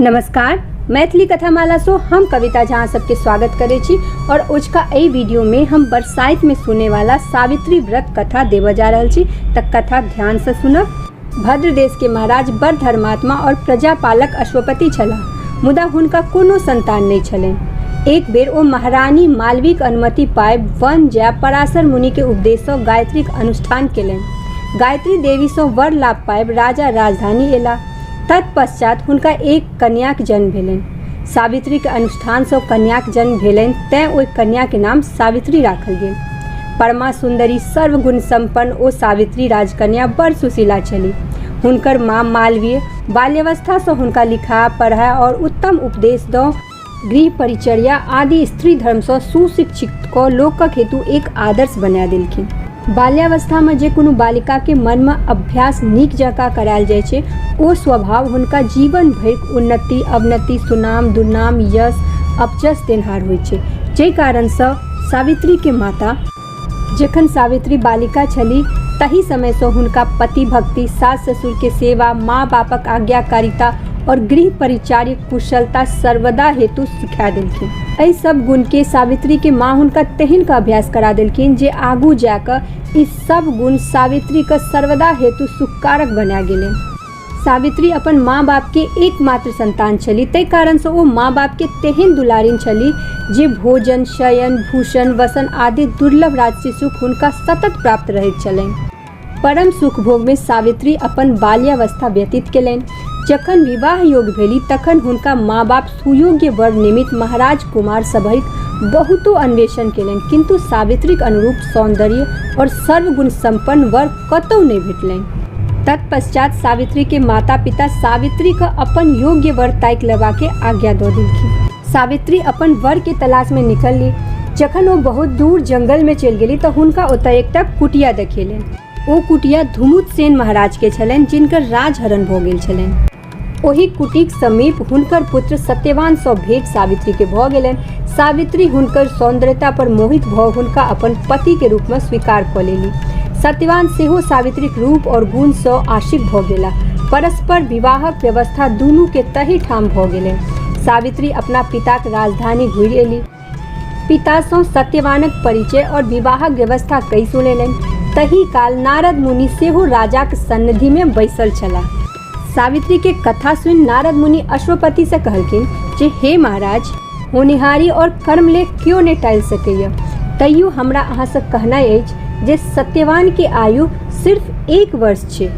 नमस्कार मैथिली कथामालासँ हम कविता झा अहाँ सबके स्वागत करै छी आओर ओझका एहि वीडियोमे हम बरसाइतमे सुनैवाला सावित्री व्रत कथा देबऽ जा रहल छी तऽ कथा ध्यानसँ सुनब भद्र देशके महाराज बड़ धर्मात्मा आओर प्रजापालक अश्वपति छलाह मुदा हुनका कोनो संतान नहि छलनि एक बेर ओ महारानी मालवीक अनुमति पाय वन जाय पराशर मुनिके उपदेशसँ गायत्रीक अनुष्ठान केलनि गायत्री देवीसँ वर लाभ पाबि राजा राजधानी एला तत्पश्चात हुनका एक कन्याक जन्म भेलनि सावित्रीके अनुष्ठानसँ कन्याक जन्म भेलनि तैँ ओहि कन्याके नाम सावित्री राखल गेल परमा सुन्दरी सर्वगुण सम्पन्न ओ सावित्री राजकन्या बड़ सुशीला छली हुनकर माँ मालवीय बाल्यवस्थासँ हुनका लिखा पढ़ा आओर उत्तम उपदेश दऽ गृह परिचर्या आदि स्त्री धर्मसँ सुशिक्षित कऽ लोकक हेतु एक आदर्श बना देलखिन। बाल्यावस्थामे जे कोनो बालिकाकेँ मर्म अभ्यास नीक जकाँ करायल जाइत छै ओ स्वभाव हुनका जीवन भरिक उन्नति, अवनति, सुनाम, दुर्नाम, यश, अपजश देनहार होइत छै। जइ कारणसँ सावित्रीकेँ माता। जखन सावित्री बालिका छली तही समय सँ हुनका पति भक्ति, सास ससुर के सेवा, माँ बापक आज्ञाकारिता और गृह परिचार्य कुशलता सर्वदा हेतु सिखा देलखिन। एहि सभ गुण के सावित्री के माँ हुनका तेहन क अभ्यास करा देलखिन जे आगू जा क ई सभ गुण सावित्री क सर्वदा हेतु सुखकारक बना गेलैन। सावित्री अपन माँ बाप के एकमात्र संतान छली ताहि कारण से ओ माँ बाप के तेहन दुलारिन छली जे भोजन शयन भूषण वसन आदि दुर्लभ राजसी सुख हुनका सतत प्राप्त रहैत छलनि परम सुख भोग में सावित्री अपन बाल्यावस्था व्यतीत केलनि जखन विवाह योग भेली तखन हुनका माँ बाप सुयोग्य वर निमित्त महाराज कुमार सभैक बहुतो अन्वेषण केलनि किन्तु सावित्रीक अनुरूप सौन्दर्य और सर्वगुण सम्पन्न वर कतौ नहि भेटलनि। तत्पश्चात् सावित्री के माता-पिता सावित्री क अपन योग्य वर ताकि लेबा के आज्ञा द देलखिन। सावित्री अपन वर के तलाश मे निकलली। जखन ओ बहुत दूर जंगल मे चलि गेली त हुनका ओतय एकटा कुटिया देखेलनि। ओ कुटिया धुमुतसेन महाराज के छलनि जिनकर राजहरण भ गेल छलनि। ओहि कुटीक समीप हुनकर पुत्र सत्यवान सँ भेंट सावित्री के भऽ गेलनि सावित्री हुनकर सौंदर्यता पर मोहित भऽ हुनका अपन पति के रूप में स्वीकार कऽ लेली सत्यवान सेहो सावित्रीक रूप और गुण सँ आशिक भऽ गेला परस्पर विवाहक व्यवस्था दुनू के तही ठाम भऽ गेलनि सावित्री अपना पिताक राजधानी घुरि एली पितासँ सत्यवानक परिचय और विवाहक व्यवस्था कहि सुनेलनि। तही काल नारद मुनि सेहो राजाक सन्निधिमे बैसल छलाह। सावित्रीके कथा सुनि नारद मुनि अश्वपतिसँ कहलखिन जे हे महाराज! होनिहारि और कर्म ले क्यो ने टालि सकैए। तैयो हमरा अहाँसँ कहनाइ अछि जे सत्यवानके आयु सिर्फ एक वर्ष छै।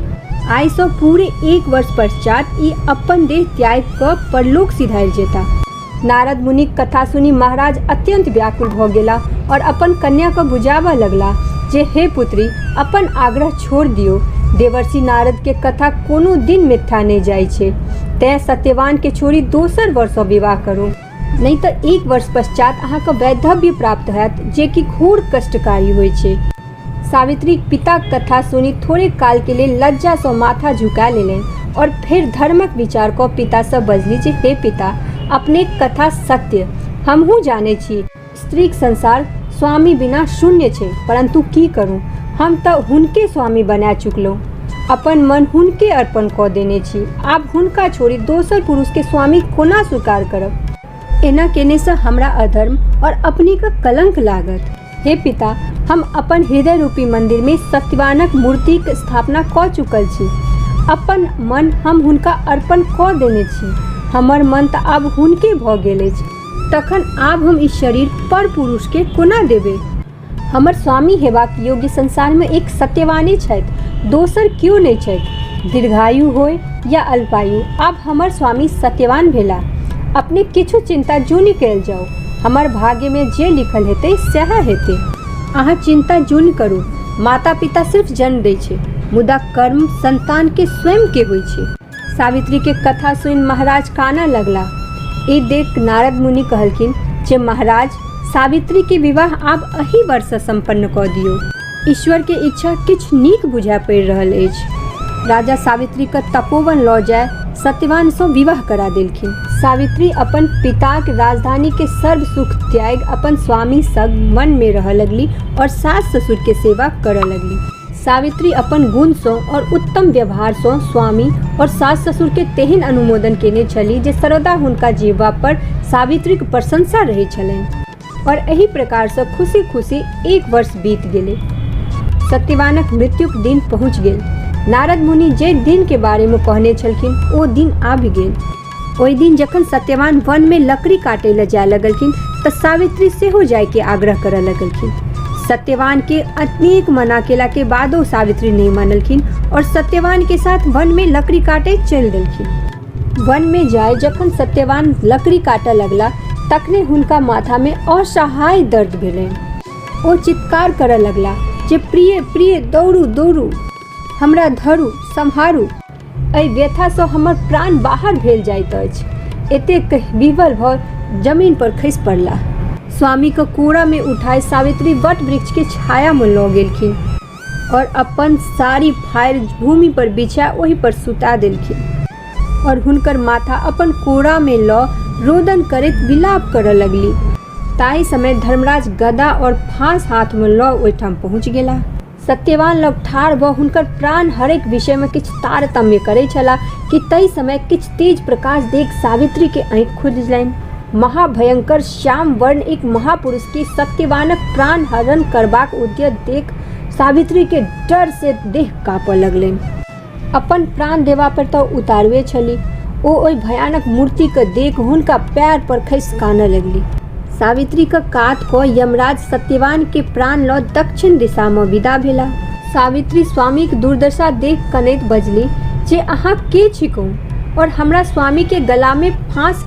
आइसँ पूरे एक वर्ष पश्चात् ई अपन देह त्यागि कऽ परलोक सिधारि जेताह। नारद मुनिक कथा सुनि महाराज अत्यंत व्याकुल भऽ गेला और अपन कन्या को बुझाबऽ लगला जे हे पुत्री अपन आग्रह छोड़ दियो देवर्षि नारद के कथा कोनो दिन मिथ्या नहि जाइ छै तैं सत्यवान के छोड़ी दोसर वर्ष विवाह करू नहि तऽ एक वर्ष पश्चात अहाँके वैधव्य प्राप्त होयत जे कि घोर कष्टकारी होइ छै सावित्रीक पिताक कथा सुनि थोड़े काल के लेल लज्जा सँ माथा झुका लेलनि और फेर धर्मक विचार क पिता सँ बजली जे हे पिता, अपनेक कथा सत्य। हमहूँ जानै छी स्त्रीक संसार स्वामी बिना शून्य छै, परन्तु की करूँ, हम त हुनके स्वामी बना चुकलहुँ। अपन मन हुनके अर्पण क देने छी। आब हुनका छोड़ि दोसर पुरुष के स्वामी कोना स्वीकार करब? एना केने से हमरा अधर्म और अपनी का कलंक लागत हे पिता हम अपन हृदय रूपी मंदिर में सत्यवानक मूर्ति के स्थापना क चुकल छी अपन मन हम हुनका अर्पण क देने छी हमर मन तऽ आब हुनके भऽ गेल अछि तखन आब हम ई शरीर पर पुरुष के कोना देबै हमर स्वामी हेबाक योग्य संसारमे एक सत्यवाने छथि दोसर केओ नहि छथि दीर्घायु होय या अल्पायु आब हमर स्वामी सत्यवान भेला अपने किछु चिन्ता जूनि कयल जाउ हमर भाग्यमे जे लिखल हेतै सएह हेतै अहाँ चिन्ता जूनि करू माता पिता सिर्फ जन्म दै छै मुदा कर्म संतानके स्वयंके होइ छै सावित्री के कथा सुनि महाराज कानऽ लगला ई देख नारद मुनि कहलखिन जे महाराज सावित्री के विवाह आब अही वर्ष संपन्न कऽ दियौ ईश्वर के इच्छा किछु नीक बुझा पड़ि रहल अछि राजा सावित्री के तपोवन लऽ जाय सत्यवान सँ विवाह करा देलखिन सावित्री अपन पिताक राजधानी के सर्व सुख त्याग अपन स्वामी संग वन में रहऽ लगली और सास ससुर के सेवा करऽ लगली सावित्री अपन गुणसँ आओर उत्तम व्यवहारसँ स्वामी आओर सास ससुरके तेहन अनुमोदन केने छलीह जे सर्वदा हुनका जीवा पर सावित्रीक प्रशंसा रहै छलनि आओर एहि प्रकारसँ खुशी खुशी एक वर्ष बीत गेलै सत्यवानक मृत्युक दिन पहुँच गेल नारद मुनि जे दिनके बारेमे कहने छलखिन ओ दिन आबि गेल ओहि दिन जखन सत्यवान वन में लकड़ी काटे ला जाए लगलखिन त सावित्री सेहो जाए के आग्रह करे लगलखिन सत्यवान के अनेक मना केला के बादो सावित्री नहीं मानलखिन और सत्यवान के साथ वन में लकड़ी काटे चल देलखिन वन में जाए जखन सत्यवान लकड़ी काटे लगला तखने हुनका माथा में असहाय दर्द भेलनि ओ चित्कार करे लगला जे प्रिय प्रिय दौड़ू दौड़ू हमरा धरू सम्हारू एहि व्यथासँ हमर प्राण बाहर भेल जाइत अछि एतेक कहि विवल भऽ जमीन पर खसि पड़ला स्वामी के कोरा में उठाय सावित्री वट वृक्ष के छाया में लऽ गेलखिन और अपन साड़ी फाड़ि भूमि पर बिछा ओहि पर सुता देलखिन और हुनकर माथा अपन कोरा में लऽ रोदन करैत विलाप करऽ लगली ताहि समय धर्मराज गदा और फांस हाथ में लऽ ओहिठाम पहुंच गेला सत्यवान लग ठाढ़ भऽ हुनकर प्राण हरैक विषय में किछु तारतम्य करै छला कि तई समय किछु तेज प्रकाश देख सावित्री के आँखि खुजलनि। महाभयंकर श्याम वर्ण एक महापुरुष के सत्यवानक प्राण हरण करबाक उद्यत देख सावित्री के डर से देह काँपऽ लगलनि। अपन प्राण देबा पर तऽ उतारुए छली ओ ओहि भयानक मूर्ति के देख हुनका पैर पर खसि कानऽ लगली सावित्री के कात कऽ यमराज सत्यवान के प्राण लऽ दक्षिण दिशा मे विदा भेला सावित्री स्वामी के दुर्दशा देख कनैत बजली जे अहाँ के छिकौ और हमरा स्वामी के गला में फांस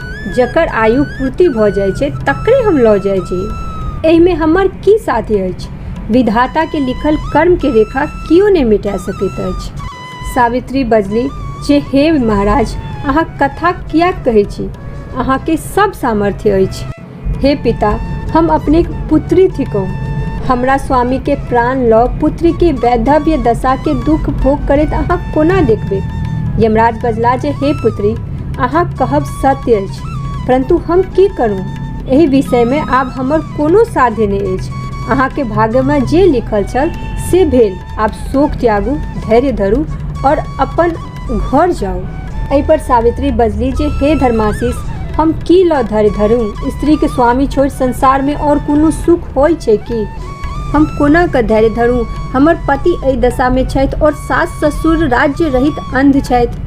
जकर आयु पूर्ति भऽ जाइ छै तकरे हम लऽ जाइ छी एहिमे हमर की साथी अछि विधाताके लिखल कर्मके रेखा केओ नहि मिटा सकैत अछि सावित्री बजली जे हे महाराज अहाँ कथा किएक कहै छी अहाँके सब सामर्थ्य अछि हे पिता हम अपने पुत्री थिकौ हमरा स्वामी के प्राण लऽ पुत्री के वैधव्य दशा के दुख भोग करैत अहाँ कोना देखबै यमराज बजला जे हे पुत्री अहाँ कहब सत्य अछि परंतु हम की करू एहि विषय में आब हमर कोनो साध्य नहि अछि अहाँ के भाग्य में जे लिखल छल से भेल आब शोक त्यागू धैर्य धरू और अपन घर जाऊ एहि पर सावित्री बजली जे हे धर्माशीष हम की लऽ धरि धरू स्त्री के स्वामी छोड़ संसार में और कोनो सुख होय छै की हम कोना के धैर्य धरू हमर पति एहि दशा में छथि और सास ससुर राज्य रहित अंध छथि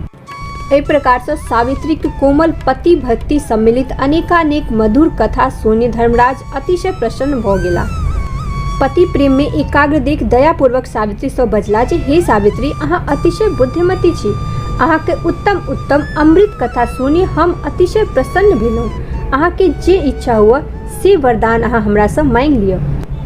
एहि प्रकार से सावित्री के कोमल पति भक्ति सम्मिलित अनेकानेक मधुर कथा सुनि धर्मराज अतिशय प्रसन्न भऽ गेलाह। पति प्रेममे एकाग्र देख दयापूर्वक सावित्रीसँ बजलाह जे हे सावित्री अहाँ अतिशय बुद्धिमती छी। अहाँक उत्तम-उत्तम अमृत कथा सुनि हम अतिशय प्रसन्न भेलहुँ। अहाँकेँ जे इच्छा हुअए से वरदान अहाँ हमरासँ माँगि लिअ।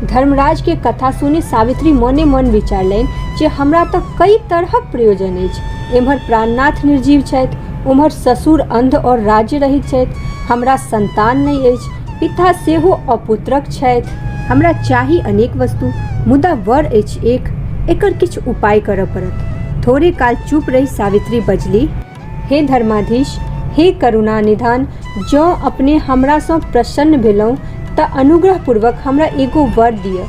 धर्मराजकेँ कथा सुनि सावित्री मने-मन विचारलनि जे हमरा तँ कइ तरहक प्रयोजन अछि। एम्हर प्राणनाथ निर्जीव छथि, ओम्हर ससुर अन्ध और राज्य रहित छथि। हमरा सन्तान नहि अछि। पिता सेहो अपुत्रक छथि हमरा चाही अनेक वस्तु मुदा वर अछि एक एकर किछु उपाय करऽ पड़त थोड़े काल चुप रही सावित्री बजली हे धर्माधीश हे करुणा निधान जँ अपने हमरासँ प्रसन्न भेलहुँ तऽ अनुग्रहपूर्वक हमरा एगो वर दिअ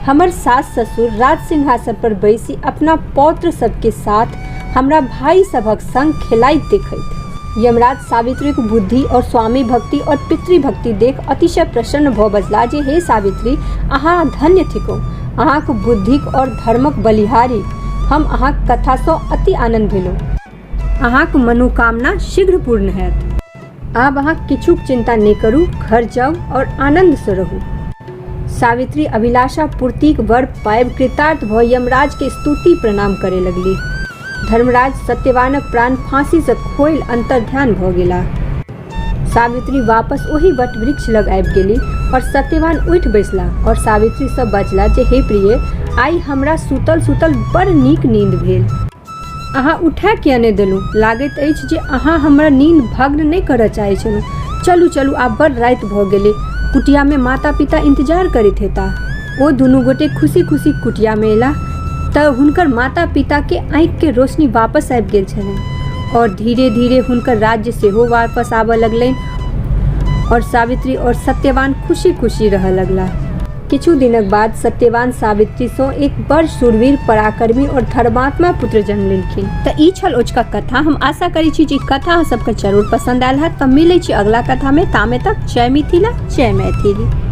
हमर सास ससुर राज सिंहासन पर बैसी अपना पौत्र सबके साथ हमरा भाई सभक संग खेलाइत देखैत यमराज सावित्रीक बुद्धि और स्वामी भक्ति और पितृभक्ति देख अतिशय प्रसन्न भऽ बजला जे हे सावित्री अहाँ धन्य थिकौ अहाँक बुद्धिक और धर्मक बलिहारी हम अहाँक कथासँ अति आनन्द भेलहुँ अहाँक मनोकामना शीघ्र पूर्ण हएत आब अहाँ किछुक चिन्ता नहि करू घर जाउ आओर आनन्दसँ रहू सावित्री अभिलाषा पूर्तिक वर पायब कृतार्थ भऽ यमराजके स्तुति प्रणाम करय लगली धर्मराज सत्यवानक प्राण फाँसीसँ खोलि अन्तर्ध्यान भऽ गेला सावित्री वापस ओही वट वृक्ष लग आबि गेली आओर सत्यवान उठि बैसला आओर सावित्रीसँ बजला जे हे प्रिय आइ हमरा सुतल सुतल बड़ नीक नींद भेल अहाँ उठा किया नहि देलहुँ लागैत अछि जे अहाँ हमर नींद भग्न नहि करय चाहै छलहुँ चलू चलू आब बड़ राति भऽ गेलै कुटियामे माता पिता इन्तजार करैत हेताह ओ दुनू गोटे खुशी खुशी कुटियामे अयलाह तऽ हुनकर माता पिताके आँखिके रोशनी वापस आबि गेल छलनि आओर धीरे धीरे हुनकर राज्य सेहो वापस आबय लगलनि आओर सावित्री आओर सत्यवान खुशी खुशी रहय लगलाह किछु दिनक बाद सत्यवान सावित्रीसँ एक बड़ शूरवीर पराक्रमी और धर्मात्मा पुत्र जन्म लेलखिन तऽ ई छल ओजका कथा हम आशा करै छी जे ई कथा अहाँ सबके जरूर पसंद आयल हैत तऽ मिलै छी अगला कथा मे तामे तक जय मिथिला जय मैथिली